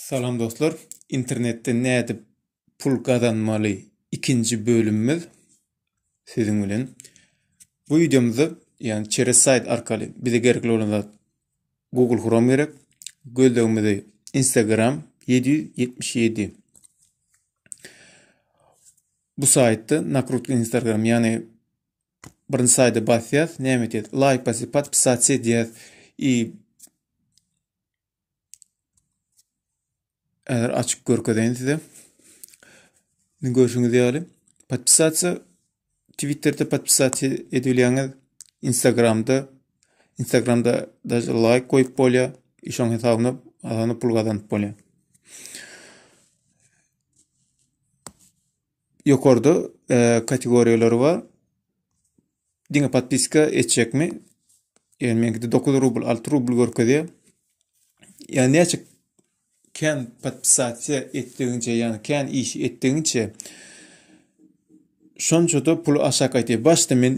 Salam dostlar. Internetde nädip pul gazanmaly ikinji bölümimiz siziň bilen. Bu videomyzda ýagny çeres saýt arkaly bize gerekli bolan zat Google Chrome gerek. Gözlegimizi Instagram 777. Bu saýtda nakrutka Instagram ýagny birinji saýda basýas, näme etýäs? Laýk basyp, podpisat edýäs. I Häzir açyp görkezeýin size. Indi görşüňiz ýaly podpisasiýa Twitter'de podpisasiýa edilýäňiz, Instagram'da Instagram'da daşy like goýup bolýar. Şoň hesabyna azany pul gazanyp bolýar. Ýokarda kategoriýalary bar. Diňe podpiska etjekmi? Ýöne meňkide 9 rubl, 6 rubl görkezýär. Ýöne näçe kän podpisasiýa etdigiňçe, ýöne kän iş etdigiňçe şonça-da pul aşak gaýtýar. Başda men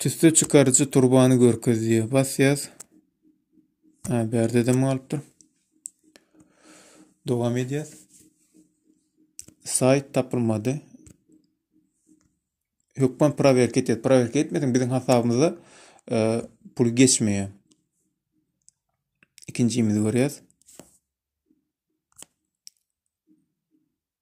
Tüsse çykaryjy turbany görkez diýýär. Basýas. Ha, berde dem galypdyr. Dowam edýäs. Saýt tapylmady. Hökman prowerk etýäs. Prowerk etmediň biziň hasabymyza e, pul geçmeýär. Ikinjimizi görýäs.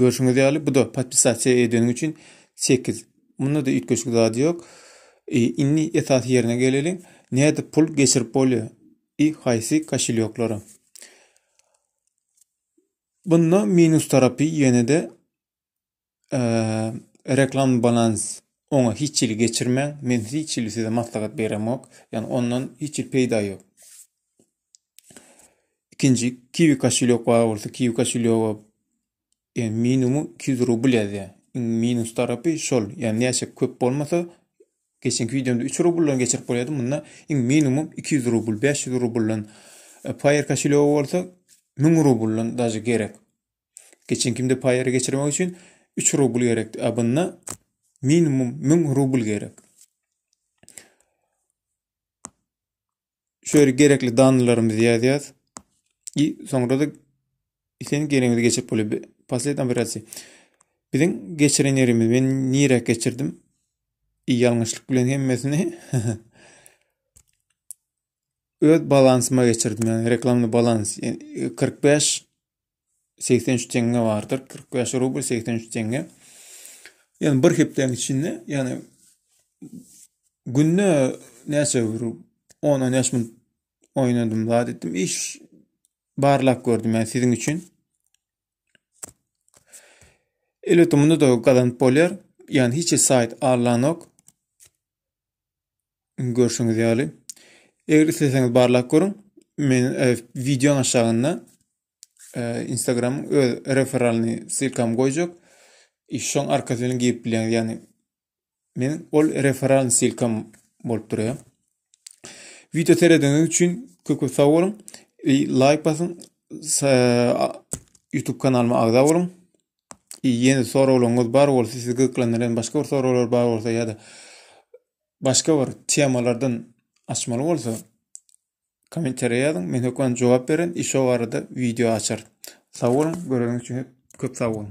Görşüňiz ýaly bu-da podpisasiýa edeniň üçin 8. Munda-da üýtgeşik zat ýok. E, indi esas ýerine geleliň. Näde pul geçirip bolýar? I haýsy koşelýoklara? Bunda minus tarapy ýene-de e, reklam balans oňa hiç hili geçirmäň. Men hiç hili size maslahat beremok. Ýani ondan hiç hili peýda ýok. Ikinji kiwi koşulýok bar bolsa kiwi koşulýoga e, minimum 200 rubl ýazýar. Iň minus tarapy şol. Ýani näçe köp bolmasa geçenki wideomda 3 rubldan geçirip bolýardy. Munda iň minimum 200 rubl, 500 rubldan. E, Paýer koşulýoga bolsa 1000 rubldan daşy gerek. Geçenkimde paýeri geçirmek üçin 3 rubl gerekdi. A bunda minimum 1000 rubl gerek. şu ýere gerekli danalarymyzy ýazýas. I soňra da sen geregiňizi geçirip bolýar. Pasled operasiýa. Biziň geçiren ýerimiz men nirä geçirdim? I ýalňyşlyk bilen hemmesini öz balansyma geçirdim. Yani reklamly balans 45 83 teňňe bardyr. 45 rubl 83 teňňe. Yani bir hepdeň içinde yani günde näçe bir 10 15 minut oýnadym zat etdim. Iş barlap gördüm yani siziň üçin. Elbette munda da gazanyp bolýar. Yani hiç sayt allanok. Görşüňiz ýaly. Eger isleseňiz barlap görüň. Men e, videoň aşagynda e, Instagram öz referalny silkam goýjak. E, şoň arkasy bilen girip bilýäňiz. Ýagny men ol referalny silkam bolup durýar. Video serediňiz üçin köp köp sag boluň. E, like basyň. YouTube kanalyma agza boluň. E, ýene soraglaryňyz bar bolsa, sizi gyzyklandyran başga bir soraglar bar bolsa ýa-da başga bir temalardan açmaly bolsa, Kommentariýa ýazyň. Men hökman jogap beren. Iş o barada wideo açar. Sag boluň. Göreňiz üçin köp sag boluň.